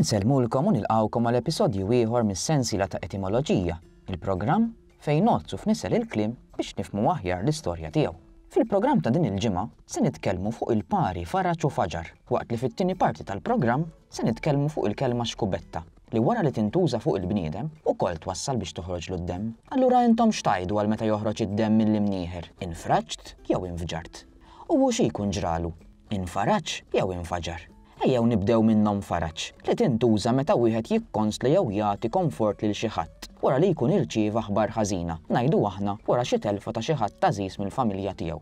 Insellmulkom u nilqgħukom għal episodju ieħor mis-sensiela ta' Etimoloġija, il-programm fejn ngħoddsu f'nisel il-kliem biex nifhmu aħjar l-istorja tiegħu. Fil-programm ta' din il-ġimgħa se nitkellmu fuq il-pari faraġ u faġar, waqt li fit-tieni parti tal-programm se nitkellmu fuq il-kelma xkubetta, li wara li tintuża fuq il-bniedem, ukoll twassal biex toħroġlu d-demm. Allura intom x'tgħidu għal meta joħroġ id-demm mill-imnieħer, infraġt jew infġart? U hu xi jkun ġralu? Infaraġ jew infaġar? Ejjew nibdew minn nonfaraġ, li tintuża meta wieħed jikkonsla jew jagħti konfort lil xi ħadd wara li jkun irċieva aħbar ħażina, ngħidu aħna wara xi telfa ta' xi ħadd għażiż mill-familja tiegħu.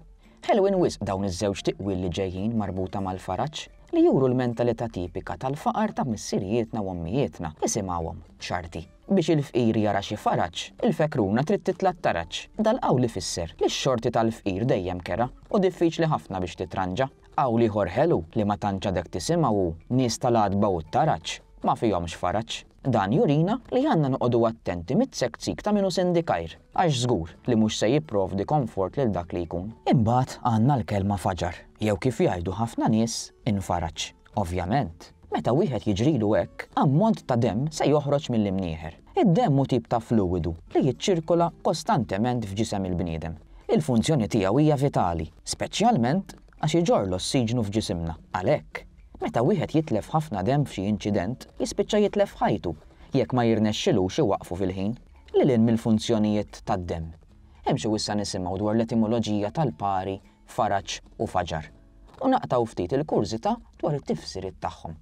Ħelwin wisq dawn iż-żewġ tiqwil li ġejjin marbuta mal-faraġ, li juru l-mentalità tipika tal-faqar ta' missirijietna u ommijietna, isimgħuhom, x'arti. Biex il-fqir jara xi faraġ, il-fekruna trid titla' t-taraġ. Dal-qawl ifisser li x-xorti tal-fqir dejjem kerha u diffiċli ħafna biex titranġa. Qawl ieħor ħelu li ma tantx għadek tisimgħu hu, Nies tal-għatba u t-taraġ, ma fihomx faraġ. Dan jurina li għandna noqogħdu attenti mit-tsekksik ta' min hu sindikajr, għax żgur li mhux se jipprovdi konfort lil dak li jkun. Imbagħad għandna l-kelma faġar, jew kif jgħidu ħafna nies, infaraġ. Ovvjament, meta wieħed jiġrilu hekk, ammont ta' demm se joħroġ mill-imnieħer. Id-demm hu tip ta' fluwidu li jiċċirkola kostantement f'ġisem il-bniedem. Il-funzjoni tiegħu hija vitali, speċjalment għax iġorr l-ossiġnu f'ġisimna. Għalhekk, meta wieħed jitlef ħafna demm f'xi inċident, jispiċċa jitlef ħajtu jekk ma jirnexxilux iwaqqfu fil-ħin. Lil hinn mill-funzjonijiet tad-demm, hemm xi wissa nisimgħu dwar l-etimoloġija tal-pari Faraġ u Fajar, u naqtgħu ftit il-kurżità dwar it-tifsiriet tagħhom.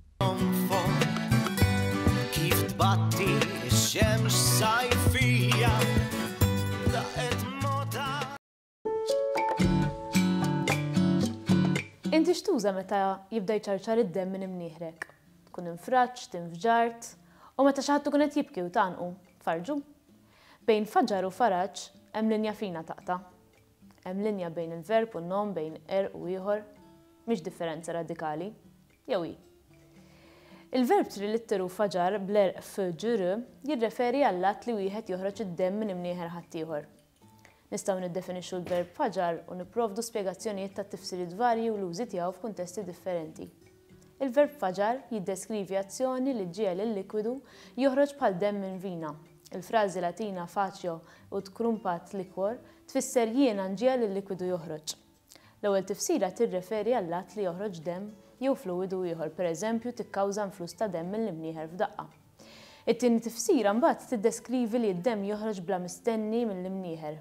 Inti x'tuża meta jibda jċarċar id-demm minn imnieħrek? Tkun infraġt, infġart, u meta xi ħadd ikun qed jibki u tgħannqu, tfarrġu? Bejn Fajar u Faraġ hemm linja fina taqta'. Hemm linja bejn il-verb u n-nom, bejn għerq u ieħor. Mhix differenza radikali. Jew hi? Il-verb trilitteru faġar bl-għerq f, ġ, r jirreferi għall-att li wieħed joħroġ id-demm minn imnieħer ħaddieħor. Nistgħu niddefinixxu l-verb faġar u nipprovdu spjegazzjonijiet tat-tifsiriet varji u l-użi tiegħu f'kuntesti differenti. Il-verb faġar jiddeskrivi azzjoni li ġġiegħel il-likwidu joħroġ bħal demm minn vina. Il-frażi Latina facio ut crumpat liquor tfisser jiena nġiegħel il-likwidu joħroġ. L-ewwel tifsira tirreferi għall-att li joħroġ demm jew fluwidu ieħor, pereżempju tikkawża nfluss ta' demm mill-imnieħer f'daqqa. It-tieni tifsira mbagħad tiddeskrivi li d-demm joħroġ bla mistenni mill-imnieħer.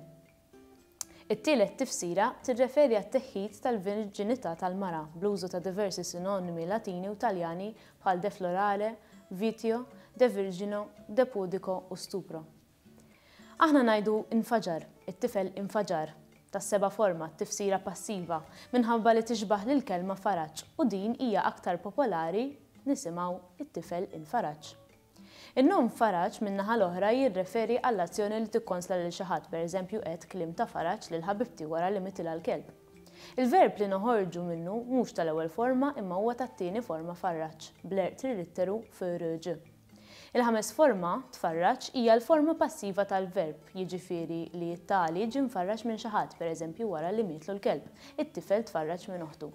It-tielet tifsira tirreferi għat-teħħid tal-virġinità tal-mara bl-użu ta' diversi sinonimi Latini u Taljani bħal deflorare, vitio, devirgino, depudico u stupro. Aħna ngħidu infaġar, it-tifel infaġar, tas-seba' forma, t-tifsira passiva, minħabba li tixbah lill-kelma faraġ u din hija aktar popolari nisimgħu it-tifel infaraġ. In-nom Faraġ, min-naħa l-oħra, jirreferi għall-azzjoni li tikkonsla lil xi ħadd, pereżempju għedt kliem ta' faraġ lil ħabibti wara li mitilha l-kelb. Il-verb li noħorġu minnu mhux tal-ewwel forma imma huwa tat-tieni forma farraġ, bl-erq trilitteru f'rġ. Il-ħames forma, tfarraġ, hija l-forma passiva tal-verb, jiġifieri li t-tali ġie mfarraġ minn xi ħadd, pereżempju wara li mietlu l-kelb, it-tifel tfarraġ minn oħtu.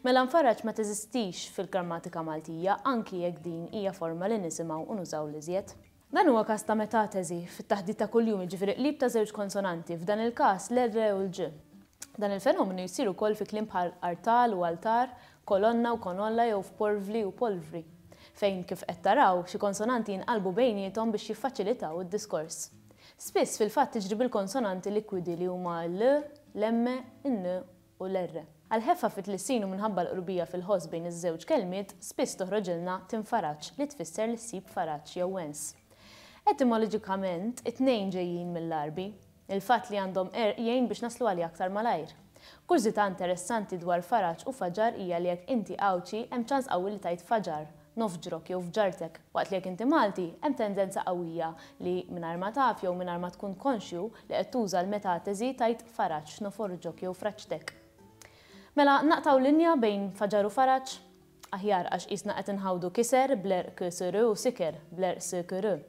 Mela nfarraġ ma teżistix fil-grammatika Maltija anki jekk din hija forma li nisimgħu u nużaw l-iżjed. Dan huwa każ ta' metateżi fit-taħdit ta' kuljum jiġifieri qlib ta' żewġ konsonanti, f'dan il-każ l-r u l-ġ. Dan il-fenomenu jsir ukoll fi kliem bħal artal u altar, kolonna u konolla jew f'porvli u polvri, fejn, kif qed taraw, xi konsonanti jinqalbu bejniethom biex jiffaċilitaw id-diskors. Spiss fil-fatt tiġri bil-konsonanti likwidi li huma l, l-emme, in-n u l-R. Għall-ħeffa fit-tlissin u minħabba l-qrubija fil-ħoss bejn iż-żewġ kelmiet, spiss toħroġilna tinfaraġġ li tfisser li ssib faraġġ jew wens. Etimoloġikament, it-tnejn ġejjin mill-Għarbi. Il-fatt li għandhom R jgħin biex naslu għaliha aktar malajr. Kurżità interessanti dwar faraġ u faġar hija li jekk inti Għawdxi, hemm ċans qawwi li tgħid faġar, nofġrok jew fġartek, waqt li jekk inti Malti, hemm tendenza qawwija li, mingħajr ma taf jew mingħajr ma tkun konxju, li qed tuża l-metateżi tgħid faraġ, noforġok jew fraġtek. Mela, naqtgħu linja bejn faġar u faraġ? Aħjar, għax qisna qed inħawdu kiser bl-er ksr u siker bl-er skr.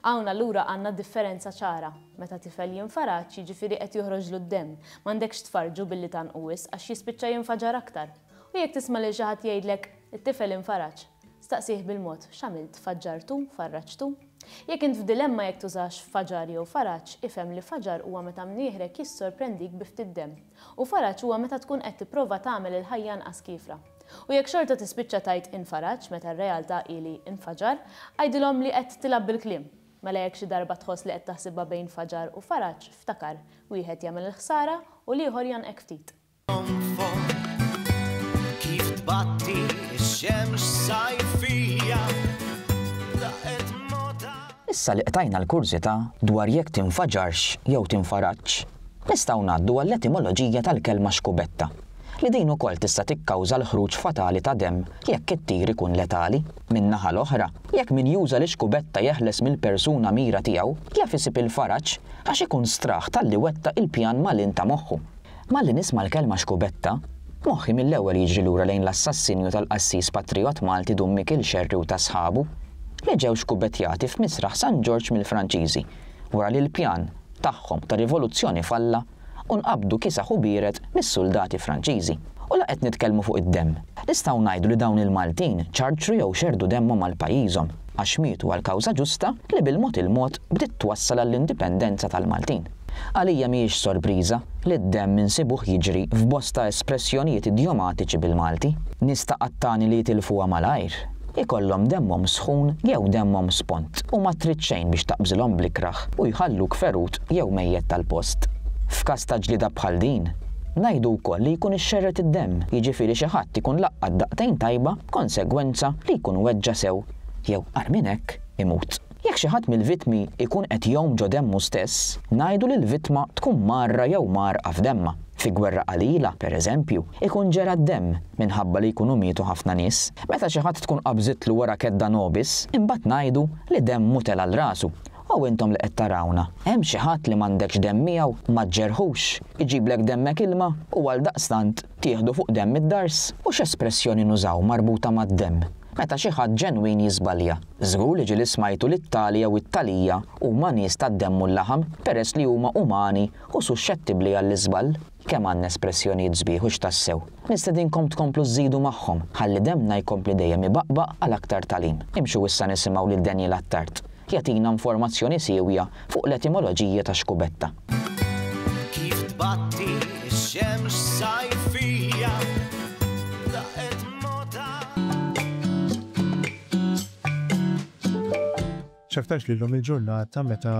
Hawn allura għandna d-differenza ċara. Meta tifel jinfaraġ, jiġifieri qed joħroġlu d-demm, m'għandekx tfarrġu billi tgħannqu wisq għax jispiċċa jinfaġar aktar. U jekk tisma' lil xi ħadd jgħidlek, It-tifel infaraġ. Staqsih bil-mod, X'għamilt, faġġartu, farraġtu? Jekk int f'dilemma jekk tużax faġar jew faraġ, ifhem li faġar huwa meta mnieħrek jissorprendik bi ftit demm, u faraġ huwa meta tkun qed tipprova tagħmel il-ħajja anqas kiefra. U jekk xorta tispiċċa tgħid infaraġ meta r-realtà hi li infaġar, għidilhom li qed tilgħab bil-kliem. Mela jekk xi darba tħoss li qed taħsibha bejn faġar u faraġ, ftakar, wieħed jagħmel il-ħsara u l-ieħor jgħannqek ftit. Kif tbatti x-xemx sajfija laqet mota. Issa li qtajna l-kurżità dwar jekk tinfaġarx jew tinfaraġx, nistgħu ngħaddu għall-etimoloġija tal-kelma xkubetta, li din ukoll tista' tikkawża l-ħruġ fatali ta' demm jekk it-tir ikun letali. Min-naħa l-oħra, jekk min juża l-ixkubetta jeħles mill-persuna mira tiegħu, jaf isib il-faraġ għax ikun straħ talli wettaq il-pjan malin ta' moħħu. Malli nisma' l-kelma xkubetta, moħħi mill-ewwel jiġri lura lejn l-assassinju tal-qassis patrijott Malti Dun Mikil Xerri u ta' sħabu, li ġew xkubettjati f'Misraħ San Ġorġ mill-Franċiżi wara li l-pjan tagħhom ta' rivoluzzjoni falla u nqabdu kisaħ u bierek mis-suldati Franċiżi. U la qed nitkellmu fuq id-demm. Nistgħu ngħidu li dawn il-Maltin ċarċru jew xerrdu demmhom għal pajjiżhom għax mietu għal kawża ġusta li bil-mod il-mod bdiet twassal għall-indipendenza tal-Maltin. Għalija mhijiex sorpriża li d-demm insibuh jiġri f'bosta espressjonijiet idjomatiċi bil-Malti. Nies ta' qattani li jitilfuha malajr, ikollhom demmhom sħun jew demmhom spont u ma trid xejn biex taqbżilhom bl-ikrah u jħalluk ferut jew mejjet tal-post. F'każ ta' ġlieda bħal din, ngħidu wkoll li jkun ixxerred id-demm, jiġifieri xi ħadd ikun laqqat daqtejn tajba b'konsegwenza li jkun weġġa' sew jew, agħar minn hekk, imut. Jekk xi ħadd mill-vittmi jkun qed jgħum ġo demmu stess, ngħidu li l-vittma tkun mgħarra jew mgħarrqa f'demmha. Fi gwerra qalila, per eżempju, ikun ġera d-demm minħabba li jkunu mietu ħafna nies. Meta xi ħadd tkun qabżitlu wara kedda nobis, imbagħad ngħidu li demmu tela' 'l rasu. O intom li qed tarawna, hemm xi ħadd li m'għandekx demm miegħu, ma ġġerħux? Iġiblek demmek ilma u għaldaqstant tieħdu fuq demm id-dars? U x'espressjoni nużaw marbuta mad-demm meta xi ħadd ġenwin jiżbalja? Żgur li ġieli smajtu li t-tali jew it-talija huma nies tad-demm u l-laħam, peress li huma umani u suxxettibbli għall-iżball. Kemm għandna espressjonijiet sbieħ u x'tassew! Nistedinkom tkomplu żżidu magħhom, ħalli demmna jkompli dejjem ibaqbaq għal aktar tagħlim. Imxu issa nisimgħu lil Daniel Attard, jagħtina informazzjoni siewja fuq l-etimoloġija ta' xkubetta. Kif tbatti x-xemx sajfija, daqqet mogħtha. X'aktarx li llum il-ġurnata meta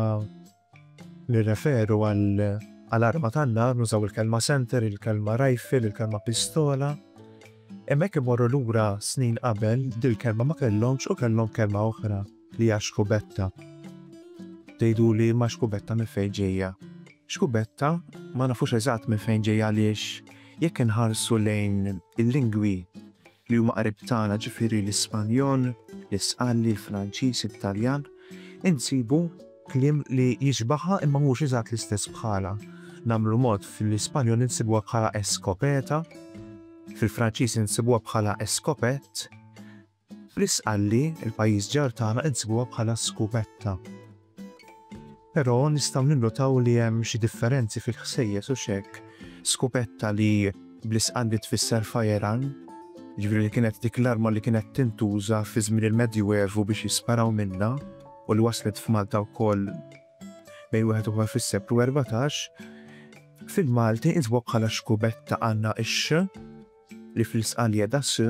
nirreferu għal arma tan-nar nużaw il-kelma center, il-kelma rifle, il-kelma pistola. Imma jekk immorru lura snin qabel, dil-kelma ma kellhomx u kellhom kelma oħra li hija xkubetta. Tgħiduli ma xkubetta minn fejn ġejja. Xkubetta ma nafux eżatt minn fejn ġejja għaliex jekk inħarsu lejn il-lingwi li huma qrib tagħna ġifieri l-Ispanjol, l-Isqalli, l-Franċiż, it-Taljan, insibu kliem li jixbahha imma mhux eżatt l-istess bħalha. Nagħmlu mod, fl-Ispanjol insibuha bħala escopeta, fil-Franċiż insibuha bħala escopette, fl-Isqalli, il-pajjiż ġar tagħna, insibuha bħala scupetta. Però nistgħu ninnotaw li hemm xi differenzi fil-ħsejjes hux hekk? Skupetta li bl-Isqandi tfisser firearm, jiġifieri li kienet dik l-arma li kienet tintuża fi żmien il-Medjuevu biex jisparaw minnha u li waslet f'Malta wkoll bejn wieħed u ieħor fis-seklu erbatax, fil-Malti intbogħ bħala xkubetta għandna x-x li fl-Isqal qiegħda s,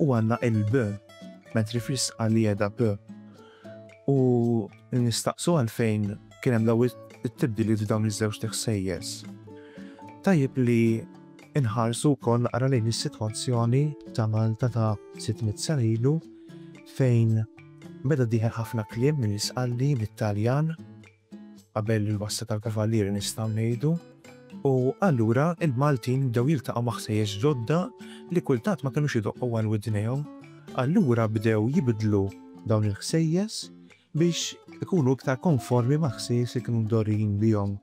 U għandna il-b, mentri fl-isqal li qiegħda p. U nistaqsu għalfejn kien hemm dawn it-tibdiliet f'dawn iż-żewġt ħsejjes. Tajjeb li nħarsu wkoll naqra lejn is-sitwazzjoni ta' Malta ta' sitt mitt sena ilu fejn beda dieħel ħafna kliem mill-Isqalli, mit-Taljan, qabel il-wassa tal-Kavallieri nistgħu ngħidu, u allura il-Maltin bdew jiltaqgħu ma' ħsejjes ġodda li kultant ma kinux idoqqu għal widnejhom. Allura bdew jibdlu dawn il-ħsejjes biex ikunu iktar konformi mal-ħsejjes li kienu mdorrijin bihom.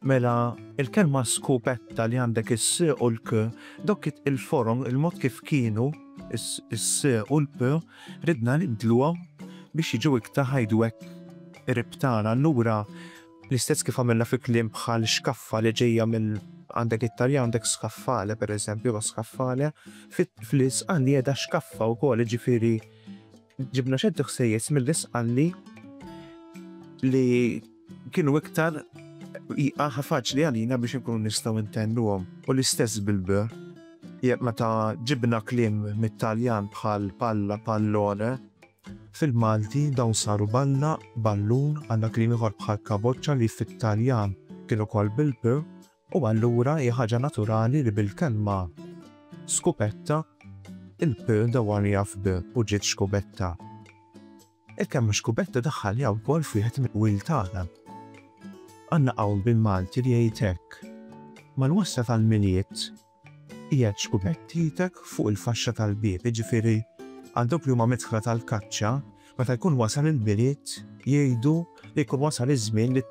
Mela, il-kelma skupetta li għandek is-s u l-k, dawk il-forom, il-mod kif kienu, is-s u l-p, ridna nibdluhom biex jiġu iktar, ngħidu hekk, qrib tagħna. Allura, l-istess kif għamilna fi kliem bħal xkaffa li ġejja minn, għandek it-Taljan għandek scaffale pereżempju, jew scaffale, fl-Isqal qiegħda xkaffa wkoll, jiġifieri, Ġibna ċerti ħsejjes mill-Isqalli li kienu iktar jqaħa faċli għalina biex inkunu nistgħu ntennuhom u l-istess bil-b. Jekk meta ġibna kliem mit-Taljan bħal palla, pallone, fil-Malti dawn saru balla, ballun, għandna kliem ieħor bħal kaboċċa li fit-Taljan kien ukoll bil-p U allura hi ħaġa naturali li bil-kelma skupetta il-p dawwarja f'b u ġiet xkubetta. Il-kelma xkubetta daħħalniha wkoll f'wieħed mill-qwil tagħna. Għandna qawl bil-Malti li jgħid hekk, Mal-wassa tal-Milied, Qiegħed xkubettietek fuq il-faxxa tal-bieb, jiġifieri għal dawk li huma midħla tal-kaċċa, meta jkun wasal il-Milied jgħidu li jkun wasal iż-żmien li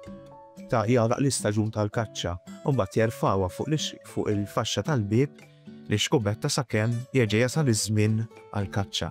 ta' jagħlaq l-istaġun tal-kaċċa u mbagħad jerfgħuha fuq il-faxxa tal-bieb li xkubetta sakemm jerġa' jasal iż-żmien għall-kaċċa.